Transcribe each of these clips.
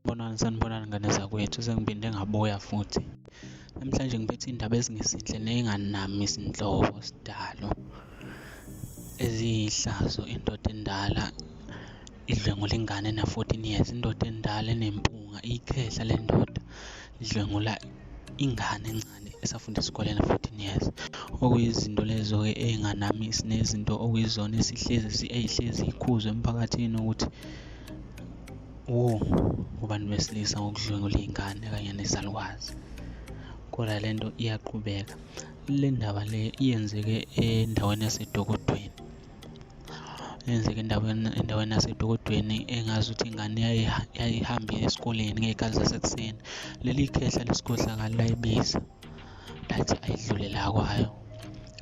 Sanibonani, sanibonani ngane zakwethu, sengiphinde ngabuya futhi. Namhlanje ngiphethe iy'ndaba ezingezinhle ney'nganami izinhlobo sidalo. Eziyihlazo indoda endala idlwengula ingane ena-14 years, indoda endala enempunga iyikhehla le ndoda idlwengula ingane encane esafunda isikole ena-14 years. Okuyizinto lezo-ke ey'nganami sinezinto okuyizona esihlezi ey'hlezi iy'khuzwa emphakathini ukuthi Oh, kubantu besilisa ngokudlwengula iy'ngane kanye nezalukwazi. Kodwa le nto iyaqhubeka. Le ndaba le iyenzeke endaweni yaseDokodweni. Yenzeke endaweni endaweni yaseDokodweni engazi ukuthi ingane yayihambile esikoleni ngey'khathi zasekuseni. Leli khehla lesikhohlakali layibiza. lathi ayidlule la kwayo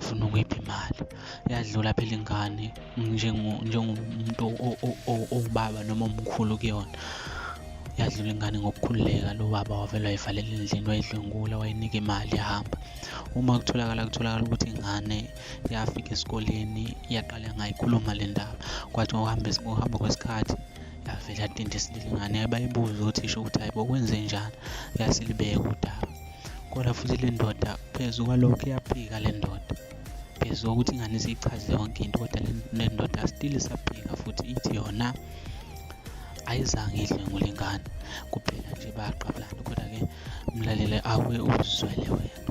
funa ukuyipha imali yadlula phela ingane njengomuntu owubaba noma omkhulu kuyona yadlula ingane ngokukhululeka lo baba wavele wayivalela endlini wayidlwengula wayinika imali yahamba uma kutholakala kutholakala ukuthi ingane yafika esikoleni yaqala ngayikhuluma le ndaba kwathi ngokuhamba ngokuhamba kwesikhathi yavele yadinda isilili ingane yayibayibuza ukuthi isho ukuthi hayi bokwenze njani yasilibeka udaba kodwa futhi le ndoda phezu kwalokho iyaphika le ndoda phezu kokuthi ingane siyichaze yonke into kodwa le ndoda still isaphika futhi ithi yona ayizange idle ngulengane kuphela nje bayaqabulana kodwa-ke mlalele awuye uzizwele wena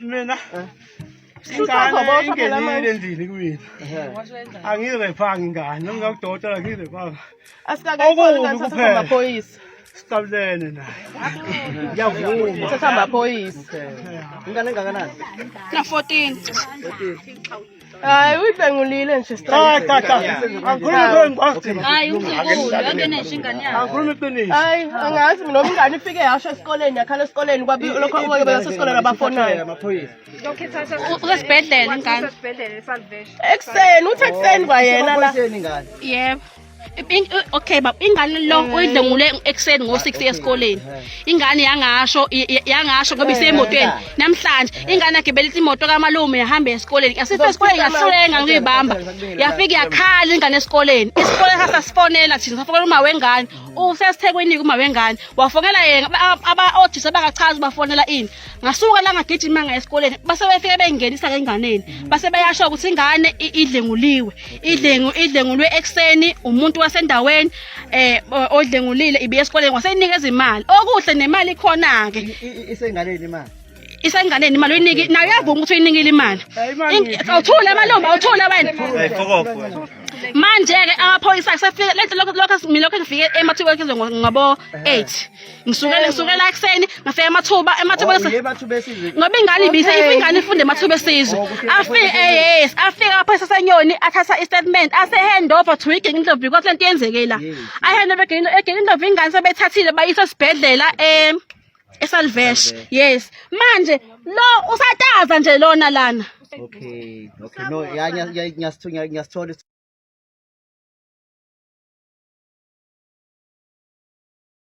mina eh? ingane ingenile endlini kumina angirephangi ingane noma ngakudokotela ngirephangi asikakayisoliamaphoyisa siqabulene naye ngiyavuma sesihamba phoyisa ingane engakanani na-14 Hayi uyidlangulile nje Cha cha cha. Angikhulumi kuwe ngibafthi. Hayi umzukulu yonke nenje ingane yakho. Angikhulumi iqiniso. Hayi angazi mina umngane ifike yasho esikoleni yakhala esikoleni kwabi lokho okoke bese esikoleni abafonayo. Usesibhedlela ingane. Ekseni uthi ekseni kwayena la. Yebo. okay baba ingane lo eh. oyidlengule ekseni ngo 6 esikoleni ingane yangasho yangasho ngoba isemotweni eh. namhlanje eh. ingane yakhe belithi imoto kamalume yahamba esikoleni yasifika esikoleni ngahlulenga ngiyibamba yafika yakhala ingane esikoleni isikole sasasifonela thina safonela uma wengane usesithekweni kuma wengane wafonela yena aba othisha bangachazi bafonela ini ngasuka la ngagijima ngaye esikoleni base befike bengenisa ngenganeni base beyasho ukuthi ingane i- idlenguliwe idlengu idlengulwe ekseni umuntu wasendaweni eh o- odlengulile ibiye esikoleni waseyinika izimali okuhle nemali ikhona ke isengaleni imali isenganeni imali uyiniki nayo yavuma ukuthi uyinikile imali In- awuthule amalombi awuthule wena manje ke amaphoyisa kusefike lento lokho lokho mina lokho ngifike emathubeni ngabo 8 ngisuke ngisukela ekuseni ngafika amathuba amathuba oh, ngoba ingane ibise if ingane ifunde amathuba esizwe oh, afike eh, yes afike apha sesenyoni athatha i-statement ase hand over to igenge indlovu because lento yenzeke la i hand over egenge egenge indlovu ingane sebethathile bayisa esibhedlela em esalvesh yes manje lo usataza nje lona lana okay okay no ngiyasithola ngiyasithola